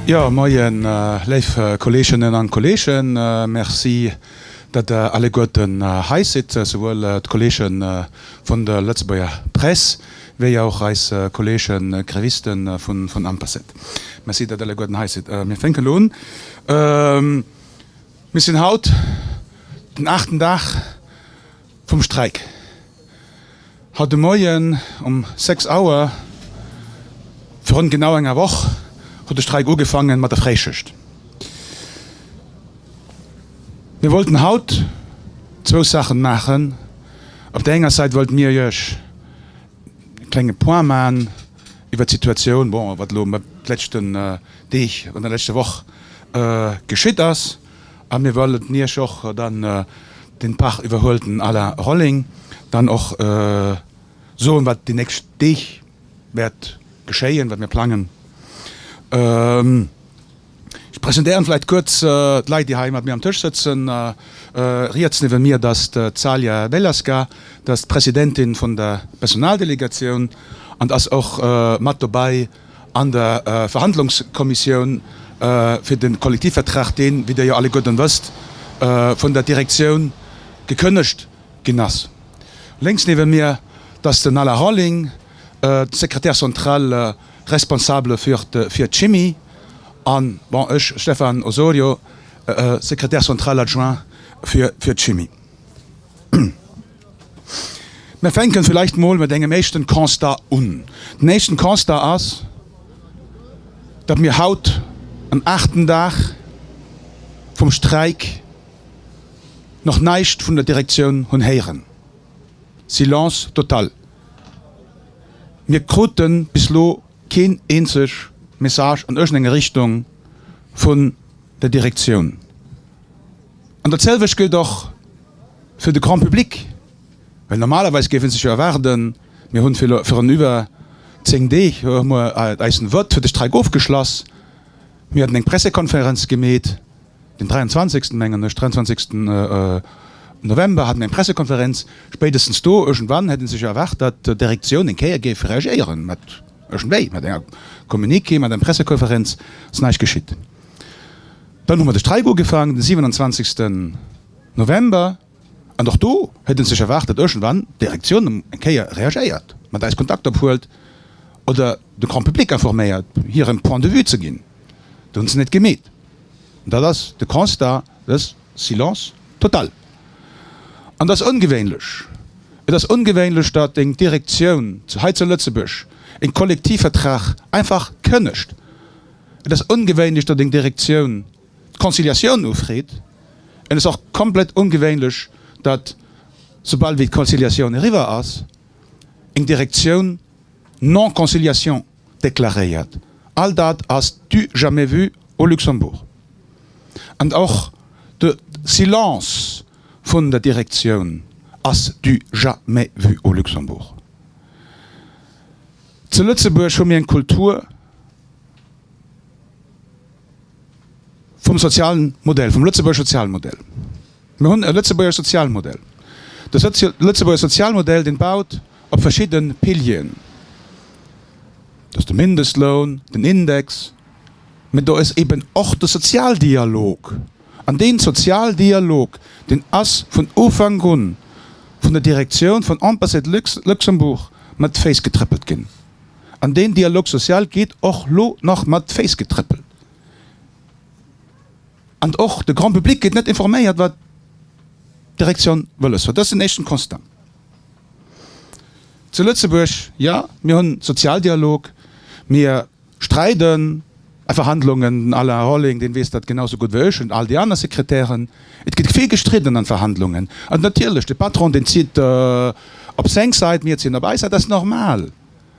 Jo, Moien, léif Kolleeginnen an Kolleegen. Merci, datt Der alleguerten hei sidd, souwuel d'Kolleege vun der Lëtzebuerger Press wéi och eis Kolleege Grévisten vun Amperset. Merci dat alleguer den hei sidd. Mir fénken elo un. Mir sinn haut den aachten Dag vum Streik. Haut de Moien um sechs Auer, virun genau enger Woch, huet de Streik ugefaangen mat der Fréischicht. Mir wollten haut zwou Saachen maachen. Op där enger Sait wollte mir iech e klenge Point maachen. Iwwer d'Situatioun, bon, wat elo d'leschten Deeg an der leschter Woch geschitt ass. A mir wëllen Iech och dann den Park iwwerhuelten Alain Rolling dann och soen, wat déi nächst Deeg wäert geschéien, wat mir plangen. Ech presentéieren vläit kuerz d'Leit, déi hei mat mir am Tësch sëtzen. Riets niewent mir, dat ass d'Calia Bellasca, dat ass d'Presidentin vun der Personaldelegatioun an dat ass och mat dobei an der Verhandlungskommissioun fir de Kollektivvertrag, deen, wéi Dir jo alleguerten wësst, vun der Direktioun gekënnegt ginn ass. Lénks niewent mir, dat ass den Alain Rolling, Secrétaire central, Responsable fir d'Chimie, a bon, ech, Stefan Osorio, Secrétaire central adjoint fir d'Chimie. Mir fänken vläicht emol mat engem éischten Constat un. Den éischten Constat ass, datt mir haut um aachten Dag vum Streik nach näischt vun der Direktioun hunn héieren. Silence total. Mir krute bis elo keen eenzeg Message an iergendeng Richtung vun der Direktioun. An dat selwecht gëllt och fir de Grand public, well normalerweis géif ee sech jo erwaarden, mir hunn virun iwwer zéng Deeg eisen Vote fir de Streik ofgeschlass, mir haten eng Pressekonferenz gemeet, Den 23 mengen ech, 23 November hat mir eng Pressekonferenz. Spéidestens do iergendwann hätt ee sech erwaart, datt d'Direktioun eng Kéier géif reagéieren, mat iergendwéi, mat enger Communiqué, mat eng Pressekonferenz. Et ass näischt geschitt. Dann hu mer de Streik ugefaangen, de 27 November. An och do huet en sech erwaart, datt iergendwann d'Direktioun ëm eng Kéier reagéiert, mat eis Kontakt ophuelt oder de Grand Public informéiert, hiren Point de vue ze ginn. Do hunn se net gemeet. An dat ass de Constat, dës Silence total. An et ass ongewéinlech. Et ass ongewéinlech, datt eng Direktioun zu hei zu Lëtzebuerg e Kollektivvertrag einfach kënnegt. Et ass ongewéinlech, datt eng Direktioun d'Conciliatioun ufreet, et ass och komplett ongewéinlech, datt soubal wéi d'Conciliatioun eriwwer ass, eng Direktioun Non-conciliation deklaréiert. All dat ass du jamais vu au Luxembourg. An och de Silence vun der Direktioun ass du jamais vu au Luxembourg. Zu Lëtzebuerg hu mir eng Kultur. Vum sozialen Modell, vum lëtzebuerger Sozialmodell. Mir hunn e lëtzebuerger Sozialmodell. De lëtzebuerger Sozialmodell, dee baut op verschidde Pilieren. Dat ass de Mindestloun, den Index, mä do ass eeben och de Sozialdialog. An deen Sozialdialog, deen ass vun Ufank un vun der Direktioun vun Amperset Luxembourg mat Féiss getrëppelt ginn. An deen Dialogue social gétt och elo nach mat d'Féiss getrëppelt. An och de Grand public gétt net informéiert, wat d'Direktioun wëlles huet. Dat ass den éischten Constat zu Lëtzebuerg. Jo, mir hunn Sozialdialog, mir streiden. A Verhandlungen, den Alain Rolling, deen weess dat genau sou gutt wéi ech an all déi aner Sekretären, et gëtt vill gestridden an Verhandlungen. An natierlech, de Patron deen zitt op seng Sait, mir zinn op eis Sait, dat ass normal.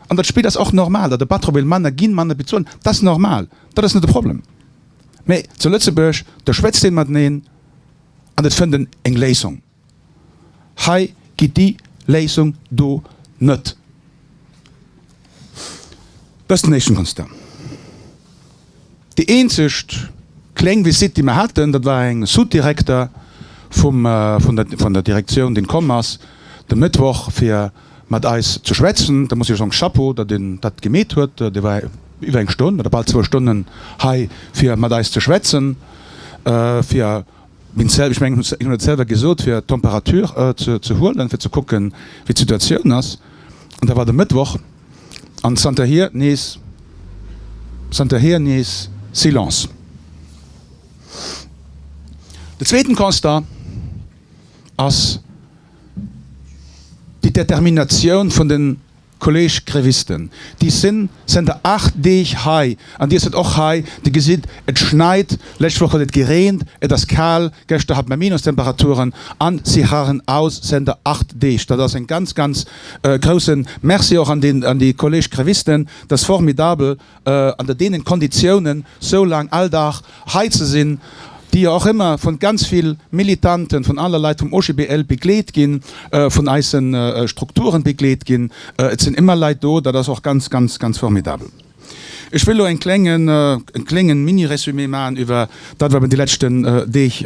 An dat Spill ass och normal, datt e Patron wéilt manner ginn, manner bezuelen, dat ass normal, dat ass net de Problem. Mee zu Lëtzebuerg, do schwätzt ee mateneen an et fënnt een eng Léisung. Hei gitt déi Léisung do net Destination Amsterdam. Déi eenzegt kléng Visitt déi mer haten, dat war eng Sous-Direkter vum vun der Direktioun deen komm ass de Mëttwoch fir mat eis ze schwätzen. Da muss ech soen Chapeau dat en dat gemeet huet. Dee war iwwer eng Stonn oder bal zwou Stonnen hei fir mat eis ze schwätzen fir Meng Zell, ech mengen ech hunn et selwer gesot, fir d'Temperatur ze huelen, fir ze kucken, wéi d'Situatioun ass. An da war de Mëttwoch, an zanterhier nees, zanterhier nees Silence. De zweeten Constat ass déi Determinatioun vun den Kolleg Grévisten, Dir sin zënter 8 Deeg hei an Dir sët och hei. Dir gesitt, et schneit. Lescht Woch huet et gereent, et ass kal. Geschter hat mer Minustemperaturen an si harren aus zënter 8 Deeg. Dat ass en ganz, ganz groussen Merci och an déi Kolleg Grévisten. Dat ass formidabel. Ënner deenen Konditiounen sou laang all Dag hei ze sinn, déi jo och ëmmer vun ganz vill Militanten, vun alle Leit vum OGBL begleet ginn, vun eisen Strukturen begleet ginn, et sinn ëmmer Leit do, dat ass och ganz, ganz, ganz formidabel. Ech wëll elo en klengen, en klengen Mini-Résumé maachen iwwer dat wat mer déi leschten Deeg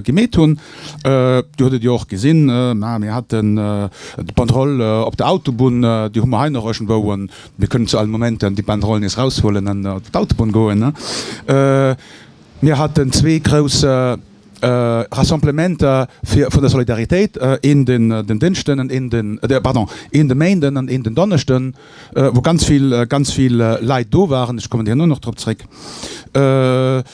gemeet hunn. Dir hutt et jo och gesinn, mä mir haten d'Banderole op der Autobunn, déi hu mer hei nach iergendwou Mir kënnen zu alle Momenter déi Banderole nees eraushuelen an op d'Autobunn goen. Mir haten zwee grouss Rassemblementer vun der Solidaritéit, een den Dënschden an een den, pardon, een de Méinden an een den Donneschden, wou ganz vill, ganz vill Leit do waren. Ech kommen déi Joer och nach drop zréck.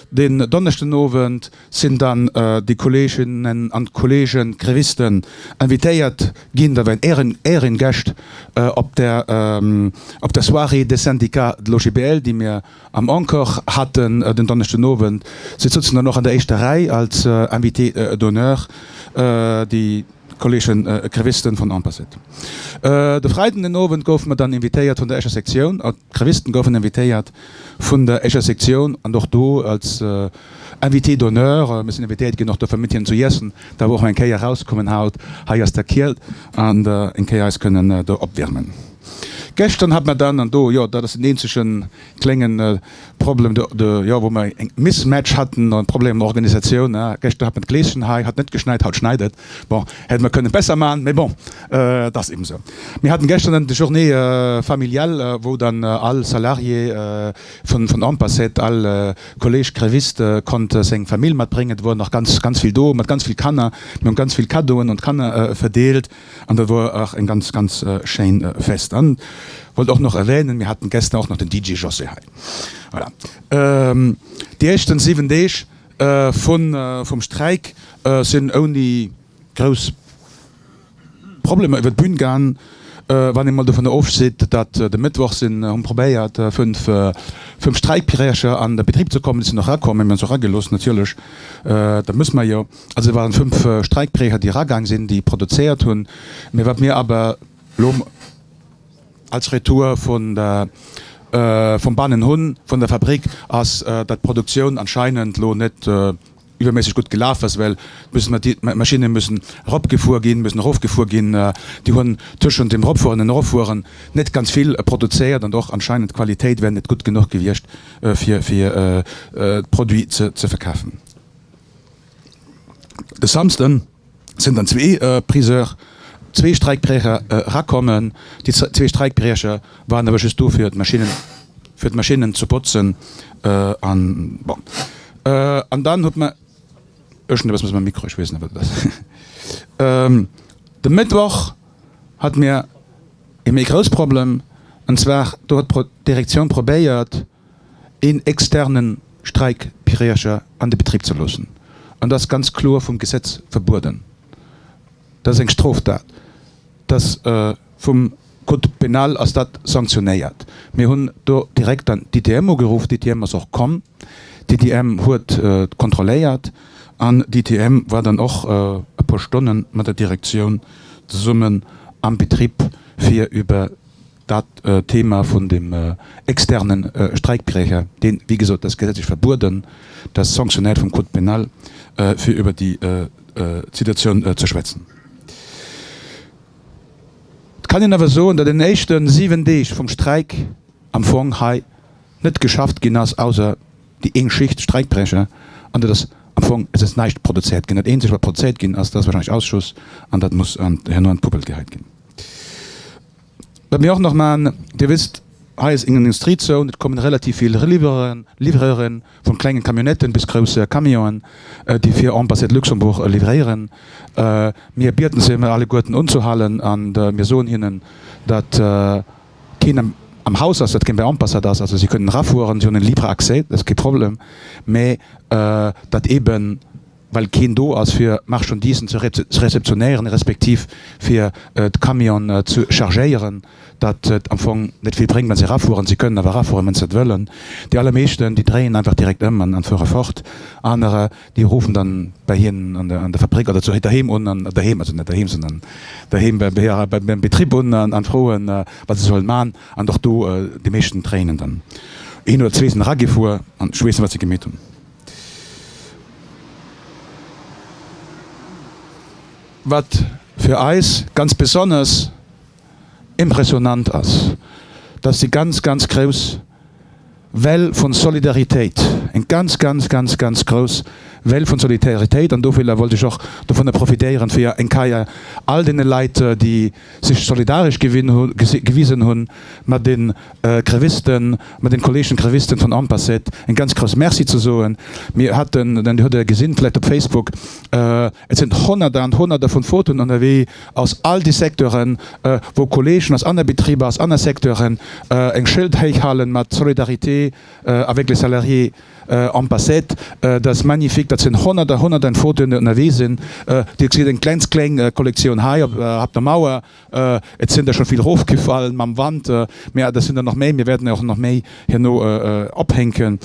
Den Donneschdenowend Sinn dann déi Kolleeginnen an Kolleege Grévisten invitéiert ginn, da wären Ären Äeringäscht op der op der Soirée des syndicats de l'OGBL, déi mir am Encore hatten den Donneschden Owend. Se sutzen dann och an der éischter Rei als Invités d'honneur. Déi. Kolleegen Grévisten vun Ampasit. De Freiden den Owend goufe mer dann invitéiert vun der éischer Sektioun, an d'Grévisten goufen invitéiert vun der éischer Sektioun an och do als Invité d'honneur. Mir sinn invitéiert ginn och dofir mat hinnen zu iessen. Dat war och eng Kéier erauskommen haut hei aus der Kielt an eng Kéier eis kënnen do opwiermen. Gëschteren hat mer dann, an do, jo, dat ass den eenzegen, kléngen Problem de jo wou mer eng Mismatch hatten an Problem an der Organisatioun ha geschter hat mer d'Gleeschen hei hat net geschneit haut schneit et bon hätte mer kënnen besser man mee bon et ass eben esou. Mir haten geschter dann de Journée familiale wou dann all Salarié vun vun Ampacet all Kolleeg Gréviste konnt seng Famill mat bréngen et wor nach ganz ganz vill do mat ganz vill Kanner mir hunn ganz vill Cadeau'en un d'Kanner verdeelt. An dat wor och eng ganz, ganz schéin Fest. An wollt och nach erwänen, mir haten gestern och nach den DJ José hei. Voilà. Déi éischten 7 Deeg vun, vum Streik sinn ouni grouss Problemer iwwert d'Bühn gaang. Wann een mol dovunner ofseet, dat de Mëttwoch sinn, hu probéiert 5, 5 Streikbrecher an de Betrib ze kommen. Déi sinn och rakomm, mir hunn se och ragelooss natierlech, dat muss mer jo. Also et waren fünf Streikbrecher, déi eragaang sinn, déi produzéiert hunn. Mee wat mir awer elo als Retour vun der, vum bannen hunn, vun der Fabrik, ass, datt d'Produktioun anscheinend elo net iwwerméisseg gutt gelaf ass, well d'müssen mer, d'Maschinne müssen eropgefuer ginn, müssen erofgefuer ginn. Déi hunn tëschent dem Eropfueren an Eroffueren net ganz vill produzéiert an och anscheinend d'Qualitéit wär net gutt genuch gewiescht, fir, fir d'Produit ze verkafen. De Samsden sinn dann zwee Priseur, zwee Streikbriecher erakommen. Déi zwee Streikbriecher waren awer just do fir d'Maschinnen, fir d'Maschinnen ze botzen an bon. An dann huet mä, iergendwat ass mat mengem Mikro, ech weess net wat et ass. De Mëttwoch hat mir ee méi grouss Problem, an zwar do huet d'Direktioun probéiert, een externen Streikbrecher an de Betrib ze loossen, an dat ass ganz kloer vum Gesetz verbueden, dat ass eng Stroftat, dat ass vum Code pénal ass dat sanktionéiert. Mir hunn do direkt dann d'ITM ugeruff, d'ITM ass och komm, d'ITM huet kontrolléiert an d'ITM war dann och e puer Stonne mat der Direktioun zesummen am Betrib fir iwwer Dat Thema vun dem externe Streikbrecher, deen, wéi gesot, dat ass gesetzlech verbueden, dat ass sanctionnéiert vum Code pénal, fir iwwer déi Situatioun ze schwätzen. Et kann een awer soen, datt an den éischte siwen Deeg vum Streik am Fong hei net geschafft ginn ass, ausser déi een Schicht Streikbrecher, an datt ass am Fong, et ass näischt produzéiert ginn. Dat eenzegt, wat produzéiert ginn ass, dat ass wahrscheinlech Ausschuss, an dat muss herno an d'Puppel geheit ginn. Wat mir och nach maachen, Dir wisst, hei ass eng Industriezone, et kommen relativ vill Livreuren, vun klengen Camionnetten bis groussen Camionen, déi fir Ambassade Luxembourg livréieren. Mir bieden se emol alleguerten unzuhalen an mir soen hinnen, dat keen am Haus ass, dat keen bei Ambassade ass, also si kënnen erafueren, si hunn en libre accès, dat ass kee Problem, mä dat eeben, well keen do ass fir Marchandisen ze réceptionnéieren, respektiv fir d'Camionen ze chargéieren, datt et am Fong net vill bréngt wann se erafueren. Se kënnen awer erafueren wann se dat wëllen. Déi allermeeschten déi dréien einfach direkt ëm an fuere fort. Anerer déi ruffen dann bei hinnen an der Fabrick oder zu doheem un, an doheem, also net doheem, sondern doheem beim Betrib un an froen wat se sollen man. An och do déi meeschten dréinen dann een oder zwee sinn eragefuer an schweessen wat se gemeet hunn. Wat fir eis ganz besonnesch impressionant ass, dass déi ganz, ganz grouss Well vun Solidaritéit, eng ganz, ganz, ganz, ganz grouss Well vun Solidaritéit, an dovilla wollt ech och dovunner profitéieren, fir eng Keier all deene Leit, déi, sech solidaresch gewisen hunn mat de Grévisten, mat den Kolleegen Grévisten vun Ampaset, en ganz grouss Merci ze soen. Mir haten, an Dir hutt e gesinn vläicht op Facebook, et sinn Honnerter an Honnerter vun Fotoen ënnerwee aus all de Secteuren, wou Kolleegen aus anner Betriber, aus anner Secteuren eng Schëld héich halen mat Solidarité, Avec les salariés am Passet, dat ass magnifique, dat sinn honnerter, honnerten Fotoen déi ënnerwee sinn. Dir gesitt eng kleng kleng Kollektioun hei op der Mauer, et sinn der scho vill rofgefall mam Wand, mä et sinn der nach méi, mir wäerten der och nach méi herno ophänken.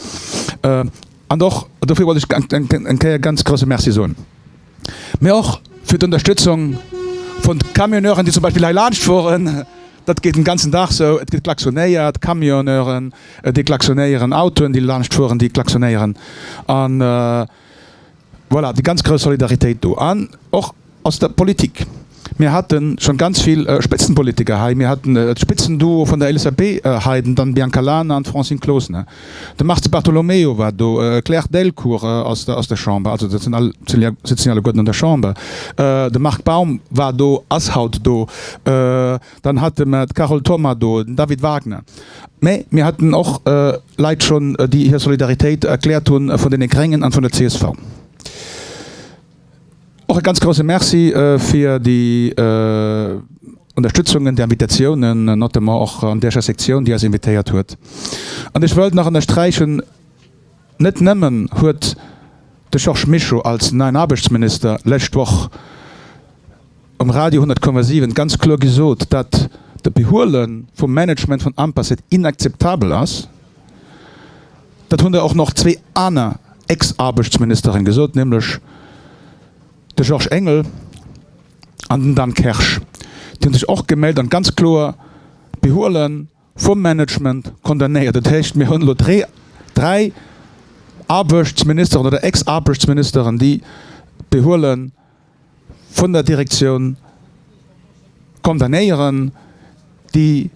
An och dofir wollt ech eng Kéier ganz grousse Merci soen. Mee och fir d'Ënnerstëtzung vun d'Camionneuren, déi zum Beispill hei laanscht fueren. Dat geet den ganzen Dag esou. Et gëtt klaxonéiert, Camionneuren, déi klaxonéieren, Autoen, déi laanscht fueren, déi klaxonéieren. A voilà, déi ganz grouss Solidaritéit do. An och aus der Politik. Mir haten schon ganz vill Spitzenpolitiker hei. Mir haten e Spitzenduo vun der LSAP hei, den Dan Biancalana an d'Francine Closener. De Mars Di Bartolomeo war do, d'Claire Delcourt aus der Chamber, also dat sinn all, se sitzen jo alleguerten an der Chamber, de Marc Baum war do, ass haut do. Dann hate mer d'Carole Thoma do, den David Wagner. Mä mir haten och Leit schon, déi hir Solidaritéit erkläert hunn vun deene Gréngen an vun der csv. Och e ganz grousse Merci fir déi Ënnerstützungen, déi Invitatiounen, notamment och an däercher Sektioun, déi eis invitéiert huet. An ech wëllt nach ënnersträichen, net nëmmen huet de Georges Mischo als neien Aarbechtsminister lescht Woch, Um Radio 100,7 ganz kloer gesot, datt de Behuele vum Management vun Ampasit inakzeptabel ass. Dat hunn der och nach zwee aner Ex-Aarbechtsministeren gesot, nämlech de Georges Engel an den Dan Kersch. Déi hu sech och gemellt an ganz kloer d'Behuele vum Management condamnéiert. Dat heescht, mir hunn elo dräi Aarbechtsministeren oder Ex-Aarbechtsministeren, déi d'Behuele. vun der Direktioun condamnéieren, déi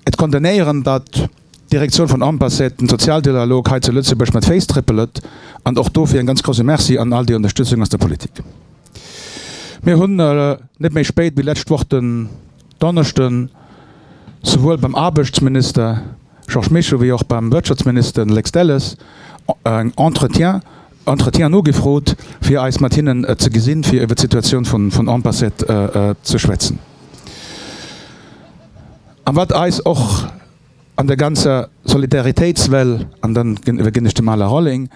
et condamnéieren, datt d'Direktioun vun Ampaset den Sozialdialog hei zu Lëtzebuerg mat Féiss tréppelt, an och dofir en ganz grousse Merci an all déi Unterstützung aus der Politik. Mir hunn net méi spéit wéi d'lescht Woch den Donneschden souwuel beim Aarbechtsminister Georges Mischo wéi och beim Wirtschaftsminister Lex Delles eng Entretien Entretiens nogefrot, fir eis mat hinnen ze gesinn, fir iwwer d'Situatioun vun Ampaset ze schwätzen a wat eis och an der ganzer Solidaritéitswell, an dann iwwerginn ech dem Alain Rolling,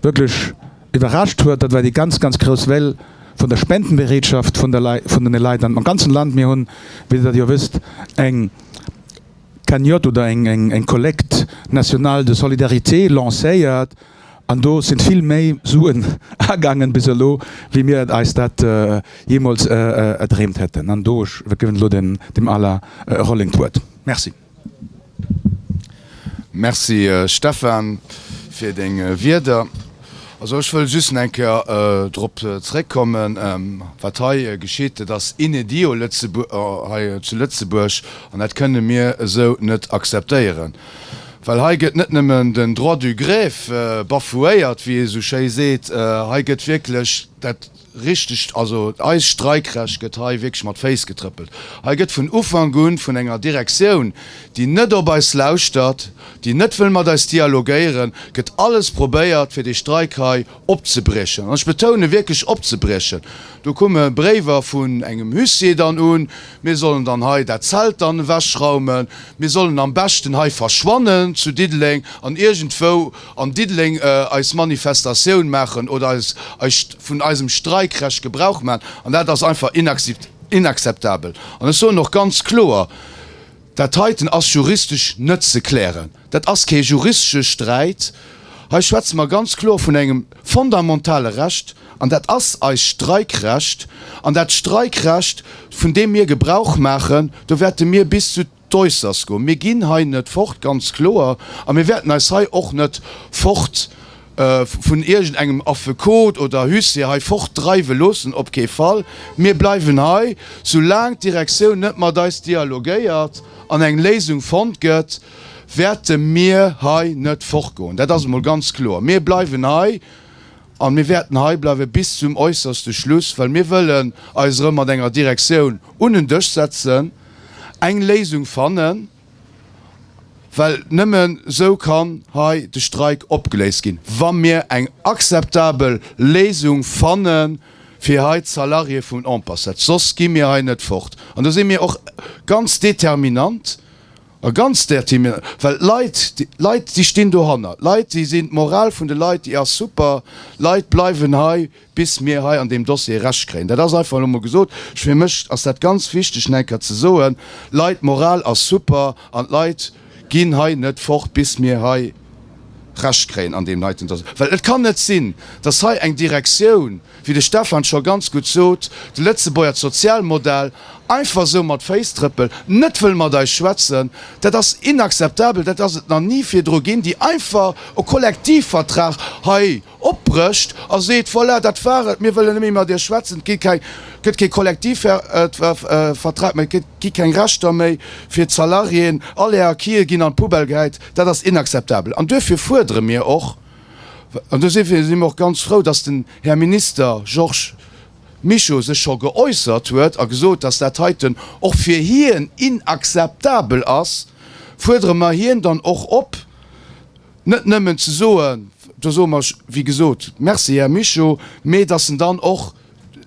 wierklech iwwerrascht huet, dat war déi ganz, ganz grouss Well vun der Spendenbereetschaft vun de Leit am ganzen Land. Mir hunn, wéi Der dat jo wësst, eng. Cagnotte oder eng Collecte nationale de solidarité lancéiert an do sinn vill méi Suen agaangen bis elo wéi mir eis dat jeemools erdreemt hätten. An do ech géifen elo dem Alain Rolling d'Wuert. Merci. Merci Stefan fir deng Wierder. Also ech wëll just eng Kéier drop zréckkommen, wat hei geschitt. Dat ass inédit hei zu Lëtzebuerg an dat kënne mir esou net akzeptéieren. Well hei gëtt net nëmmen den Droit du greffe bafouéiert, wéi ee sou schéi seet, hei gëtt wierklech dat Richteg, also eist Streikrecht gëtt hei wierklech mat Féiss getrëppelt. Hei gëtt vun Ufank un vun enger Direktioun, déi net op eis lauschtert, déi net wëll mat eis dialogéieren, gëtt alles probéiert fir dee Streik hei opzebriechen. An ech betoune wierklech opzebriechen. Do kumme Bréiwer vun engem Huissier dann un, mir sollen dann hei dat Zelt dann ewechraumen, mir sollen am beschten hei verschwannen zu Diddeleng an iergendwou, an Diddeleng eis Manifestatioun maachen oder eis vun eisem Streikrecht Gebrauch maachen, an dat ass einfach inakzeptabel. An ech soen och ganz kloer, Dat heiten ass juristesch net ze klären. Dat ass kee juristesche Sträit. Hei schwätze mer ganz kloer vun engem fondamentale Recht, an dat ass eist Streikrecht. An dat Streikrecht, vun deem mir Gebrauch maachen, do wäerte mir bis zu. D'Oysters goen. Mir ginn hei net fort, ganz kloer, a mir wäerten eis hei och net fort vun iergend engem Affekot oder Huissier hei fort dreiwe loossen, op kee Fall. Mir bleiwen hei, sou laang d'Direktioun net mat eis dialogéiert an eng Léisung fonnt gëtt, wäerte mir hei net fort goen. Dat ass emol ganz kloer. Mir bleiwen hei an mir wäerten hei bleiwe bis zum äusserste Schluss, well mir wëllen eis erëm mat enger Direktioun un en Dësch setzen, eng Léisung fannen, well nëmmen esou kann hei de Streik opgeléist ginn, wa mir eng akzeptabel Léisung fanne fir hei d'Salarié vum Ampassat, soss gi mir hei net fort. An do si mir och ganz determinant, well d'Leit, d'Leit déi stinn dohanner, d'Leit déi sinn, d'Moral vun de Leit déi ass super, d'Leit bleiwen hei bis mir hei an deem Dossier Recht kréien. Dat ass einfach elo mol gesot. Fir mech ass dat ganz wichteg nach eng Kéier ze soen. Leit, d'Moral ass super an d'Leit ginn hei net fort, bis mir hei Recht kréien an deem heiten Dossier. Well et kann net sinn, dass hei eng Direktioun, wéi de Stefan scho ganz gutt sot, de Lëtzebuerger Sozialmodell einfach esou mat Féiss trëppelt, net wëll mat eis schwätzen. Dat ass inakzeptabel. Dat ass et nach ni virdru ginn, déi einfach e Kollektivvertrag hei Opbrëcht a seet, Voilà, dat war et, mir wëllen net méi mat iech schwätzen, et gëtt kee Kollektivvertrag méi, et gi keng Rechter méi fir d'Salariéen, all är Acquise ginn an d'Poubelle gehäit. Dat ass inakzeptabel an duerfir fuerdere mir och, an do si mir och ganz frou, datt den Här Minister Georges Mischo sech scho geäussert huet a gesot, datt dat heiten och fir hien inakzeptabel ass, fuerdere mer hien dann och op, net nëmmen ze soen, do soe mer, wéi gesot, Merci, Här Mischo, mee dass en dann och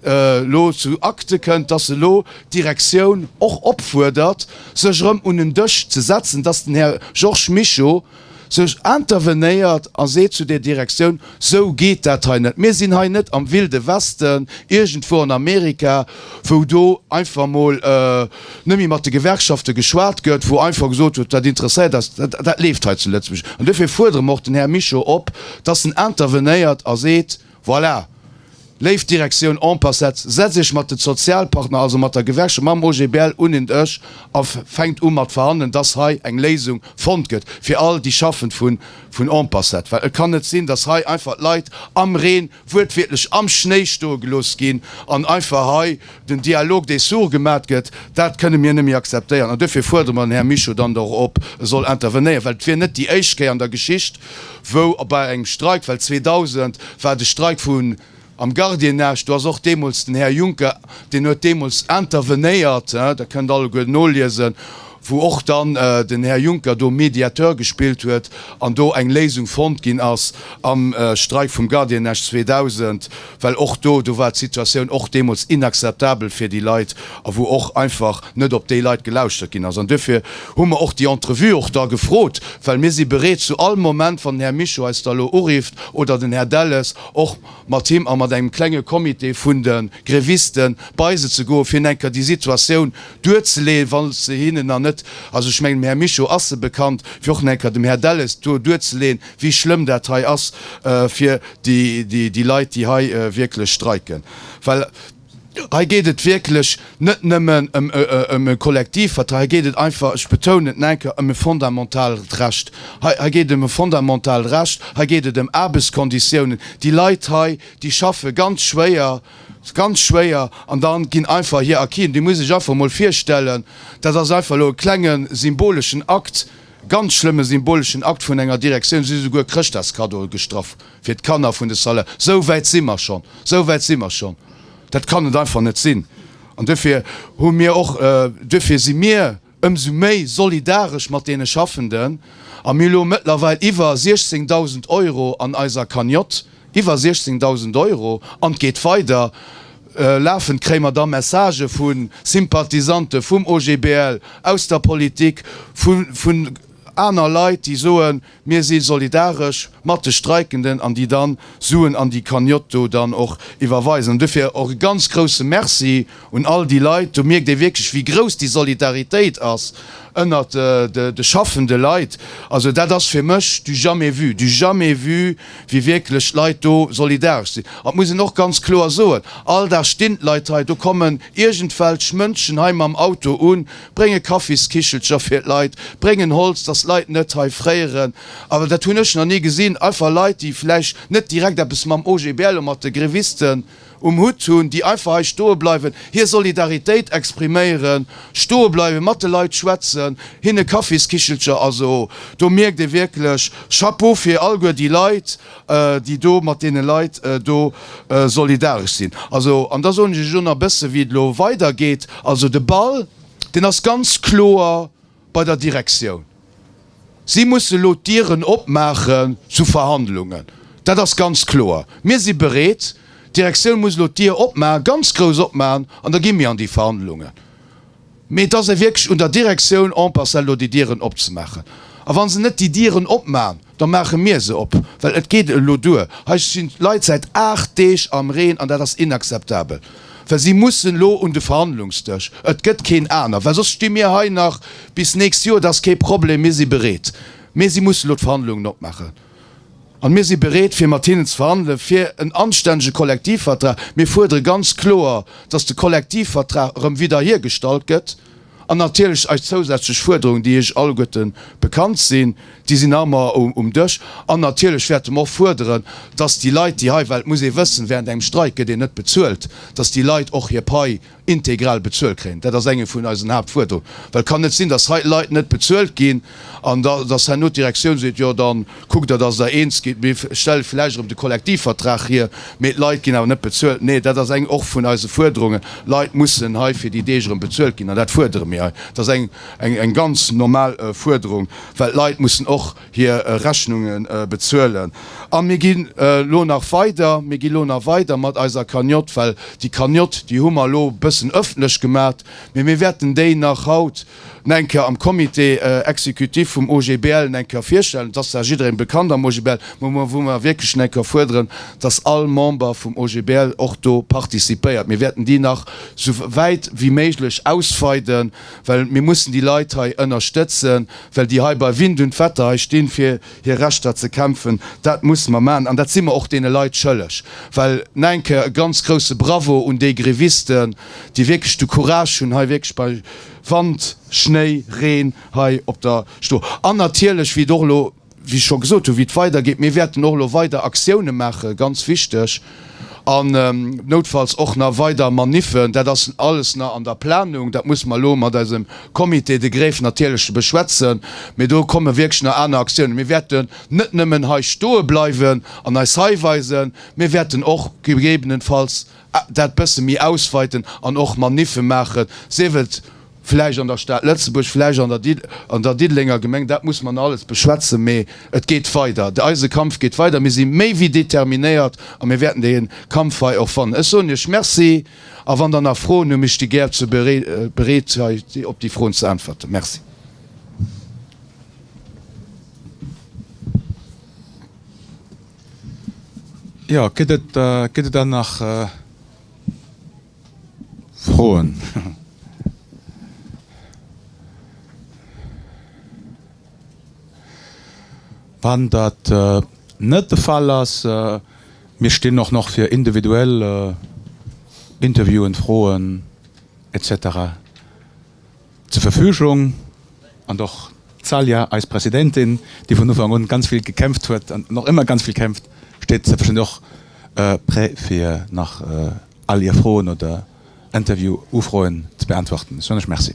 elo zu Acte kënnt, dass elo d'Direktioun och opfuerdert, sech erëm un en Dësch ze setzen, dass den Här Georges Mischo sech intervenéiert a seet zu der Direktioun, Sou geet dat hei net. Mir sinn hei net am Wilde Westen, iergendwou an Amerika, wou do einfach emol net méi mat de Gewerkschafte geschwat gëtt, wou einfach gesot gëtt, dat interesséiert eis, dat leeft hei zu Lëtzebuerg. An duerfir fuerdere mer och den Här Mischo op, dass en intervenéiert a seet, Voilà, Léif Direktioun, en passat setz Iech mat de Zozialpartner, also mat der Gewerkschaft, mam OGBL un en Dësch a fänkt u mat verhandelen, dass hei eng Léisung fonnt gëtt fir all déi Schaffend vun en passat. Well et kann net sinn, dass hei einfach d'Leit am Reen, wuertwiertlech am Schnéi stoe gelooss ginn an einfach hei Den Dialogue dee sourd gemat gëtt, dat kënne mir net méi akzeptéieren an duerfir fuerdere mer den Här Mischo dann da och op, e soll intervenéieren, well et wier net déi éischt Kéier an der Geschicht, wou bei engem Streik, well 2000 war de Streik vun am Gardiennage, do ass och deemools den Här Juncker, deen huet deemools intervenéiert, dat kënnt alleguer noliesen. wou och dann den Här Juncker do Mediateur gespillt huet an do eng Léisung fonnt ginn ass am Streik vum Gardiennage 2000, well och do, do war d'Situatioun och deemools inakzeptabel fir déi Leit a wou och einfach net op déi Leit gelauschtert ginn ass. An duerfir hu mer och déi Entrevue och da gefrot, well mir si bereet zu all Moment, wann den Här Mischo eis da elo urifft oder den Här Delles, och mat him a mat engem klenge Comité vun de Grévisten bei se ze goen, fir enker déi Situatioun duerzeleen, wa se hinnen nach net, also ech mengen dem Här Mischo ass se bekannt, fir och nach eng Kéier dem Här Delles do duerzeleen, wéi schlëmm dat hei ass fir déi Leit, déi hei wierklech streiken. Well hei geet et wierklech net nëmmen ëm e Kollektivvertrag, hei geet et einfach, ech betounen et nach eng Kéier, ëm e fondamentalert Recht. Hei geet et ëm e fondamentalert Recht, hei geet et ëm Aarbechtskonditiounen. Déi Leit hei, déi schaffe ganz schwéier. ass ganz schwéier an da ginn einfach hir Acquisen, Dir musst Iech einfach emol virstellen, dat ass einfach elo e klenge symboleschen Akt, e ganz schlëmme symboleschen Akt vun enger Direktioun, si hu souguer Chrëschtdagskaddoe gestrach fir d'Kanner vun de Salaire. Esou wäit si mer schonn, esou wäit si mer schonn! Dat kann et einfach net sinn an duerfir hu mir och, duerfir si mir, ëmsou méi solidaresch mat deene Schaffenden, a mir elo mëttlerweil iwwer 16.000 Euro an eiser Cagnotte, iwwer 16.000 Euro, an et geet weider, lafend kréie mer da Messagë vu Sympathisante vum OGBL, aus der Politik, vu aner Leit, déi soen, Mir si solidaresch mat de Streikenden an déi dann Suen an déi Cagnotte do dann och iwwerweisen. An dofir och e ganz grousse Merci un all déi Leit. Do mierkt ee wierklech wéi grouss déi Solidaritéit ass ënnert de schaffende Leit. Also dat ass fir mech du jamais vu, du jamais vu wéi wierklech d'Leit do solidaresch sinn. An et muss een och ganz kloer soen, all Dag stinn d'Leit hei, do kommen iergendwelch Mënschen hei mam Auto un, Brénge Kaffiskichelcher fir d'Leit, bréngen Holz, dass d'Leit net hei fréieren. Awer dat hunn ech nach ni gesinn. Einfach Leit, déi vläicht net direkt eppes mam OGBL oder mat de Grévisten um Hutt hunn, déi einfach hei stoe bleiwen, hir Solidaritéit expriméieren, stoe bleiwen, mat de Leit schwätzen, hinne Kaffiskichelcher. Also do mierkt ee wierklech, Chapeau fir alleguer déi Leit. déi do mat deene Leit do solidaresch sinn. Also, an da soen ech Iech och nach e bësse wéi et elo weidergeet, also de Ball, deen ass ganz kloer bei der Direktioun. Si musse elo d'Dieren opmaache zu Verhandlungen, dat ass ganz kloer. Mir si bereet, d'Direktioun muss elo d'Dier opmachen, ganz grouss opmachen, an da gi mir an déi Verhandlungen. Mee et ass ee wierklech un der Direktioun en passant elo déi Dieren opzemaachen. A wa se net déi Dieren opmachen, da maache mir se op, well et geet elo duer. Hei sti Leit säit aacht Deeg am Reen an dat ass inakzeptabel. Well si mussen elo un de Verhandlungsdësch, et gëtt keen aner, well soss sti mir hei nach bis nächst Joer. Dat ass kee Problem, mir si bereet, mee si mussen elo d'Verhandlungen opmaachen. An mir si bereet fir mat hinnen ze verhandelen, fir en anstännege Kollektivvertrag. Mir fuerdere ganz kloer, dass de Kollektivvertrag erëm widderhiergestallt gëtt. An natierlech eis zousätzlech Fuerderungen, déi Iech alleguerte bekannt sinn, déi sinn nach ëmmer um Dësch. An natierlech wäerte mer och fuerderen, dass déi Leit, déi hei, well et muss ee wëssen, während engem Streik gëtt een net bezuelt, dass déi Leit och hir Pai integral bezuelt kréien. Dat ass enge vun eisen Haaptfuerderungen, well et kann net sinn, dass hei Leit net bezuelt ginn an dass herno d'Direktioun seet, jo da kuckt Der, dass Der eens gitt, mir stelle vläicht erëm de Kollektivvertrag hier, mee d'Leit ginn awer net bezuelt. Nee, dat ass eng och vun eise Fuerderungen. Leit mussen hei fir déi Deeg erëm bezuelt ginn an dat fuerdere mir hei. Dat ass eng ganz normal Fuerderung, well d'Leit mussen och, hir Rechnunge bezuelen. A mir gi lo nach weider, mir gi lo nach weider mat eiser Cagnotte, well déi Cagnotte, déi hu mer elo e bëssen ëffentlech gemat, mee mir wäerten déi nach haut nach eng Kéier am Comité exécutif vum OGBL nach eng Kéier virstellen. Et ass zwar jidderee bekannt am OGBL, mä wou mer wierklech nach eng Kéier fuerderen, dass all Member vum OGBL och do participéiert. Mir wäerten déi nach esou wäit wéi méiglech ausweiden. well mir mussen déi Leit hei ënnerstëtzen, well déi hei bei Wind und Wetter hei stinn, fir hir Rechter ze kämpfen. Dat musse mer maachen an dat si mer och deene Leit schëlleg. Well, nach eng Kéier e ganz grouse Bravo un déi Grévisten, déi wierklech de Courage hunn, hei wierklech bei Wand, Schnéi, Reen hei op der Stroe an natierlech, wéi et och elo, wéi ech scho gesot hunn, wéi et weidergeet. Mir wäerten och elo weider Aktioune maachen, ganz wichteg, an noutfalls och nach weider Maniffen. Dat ass alles nach an der Planung. Dat musse mer elo mat eisem Comité de grève natierlech beschwätzen. Mee do komme wierklech nach aner Aktiounen. Mir wäerten net nëmmen hei stoe bleiwen an eis hei weisen. Mir wäerten och gegebenenfalls dat bësse méi ausweiten an och Maniffen maachen, sief et, Vläicht an der Stad Lëtzebuerg, vläicht an der Diddelenger Gemeng, dat muss mer alles beschwätzen, mee et geet weider. Eise Kampf geet weider. Mir si méi wéi determinéiert a mir wäerten dee Kampf hei och fannen. Ech soen Iech Merci a wann Der nach Froen hunn, ech sti gär zur bereet hei op déi Froen ze äntwerten. Merci. Jo, gëtt et dann nach. Froen? Wann dat net de Fall ass, mir stinn och nach fir individuell Interviewen, Froen, etc. zur Verfügung, an och d'Salya, eis Presidentin, déi vun Ufank un ganz vill gekämpft huet an och ëmmer ganz vill kämpft, steet selbstverständlech och prêt fir nach all Ier Froen oder Interview-Ufroen ze beäntwerten. Ech soen lech Merci.